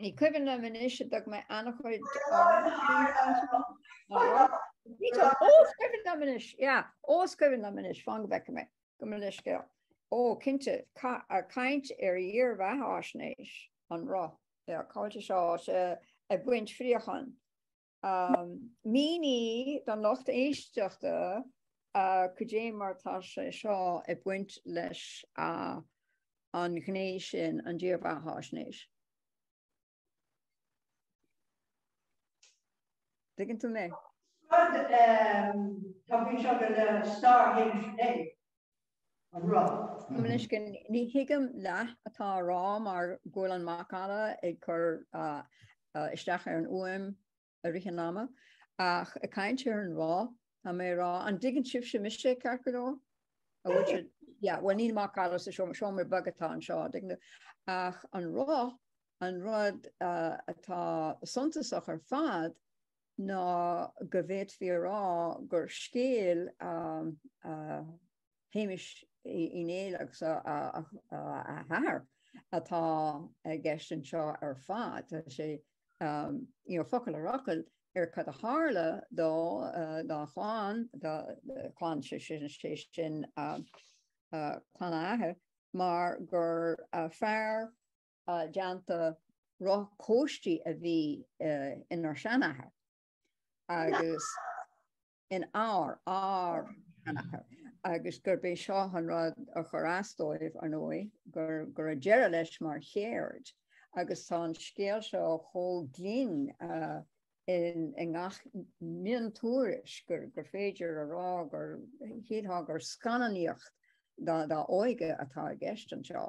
Ní cuimhin liom anois ar dtug mé an-chuid Ó is cuimhin liom anois, yeah, ó is cuimhin liom anois, fan go bhfeice mé gabh mo leithscéal. Ó, cinnte, ag caint ar dhírbheathaisnéis an roth, yeah, cáil Tassie, ag baint fraochán. Mínigh don lucht éisteachta cad é mar atá sé seo ag baint leis an ghné sin, an dírbheathaisnéis. dtuigeann tú mé? Talking about Stargate Day. An raibh? Coimnisce, Ní thuigim leath atá á rá mar go bhfuil an macalla ag cur isteach ar an fhuaim i rith an ama, ach ag caint ar an roth, tá mé ag rá, an dtuigeann sibhse mise, ceart go leor? An bhfuil sé, yeah, bhuel níl macalla sa seomra, seomra beag atá anseo, tuigim. Ach an roth, an rud atá suntasach ar fad, ná go bhféadfaí a rá gur scéal Shéamuis Uí Néill agus a athar atá i gceist anseo ar fad. Tá sé focal ar fhocal ar cad a tharla dó, dá chlann, dá chlann, sé sin clann a athar, mar gur fear déanta roth cóistí a bhí inár seanathair agus in ár ár seanathair agus gurb é seo an rud a chuir as dóibh, ar ndóigh, gur go raibh deireadh leis mar cheird agus tá an scéal seo chomh glinn i ngach miontuairisc gur féidir a rá gur shílfeá gur scannánaíocht dá óige atá i gceist anseo.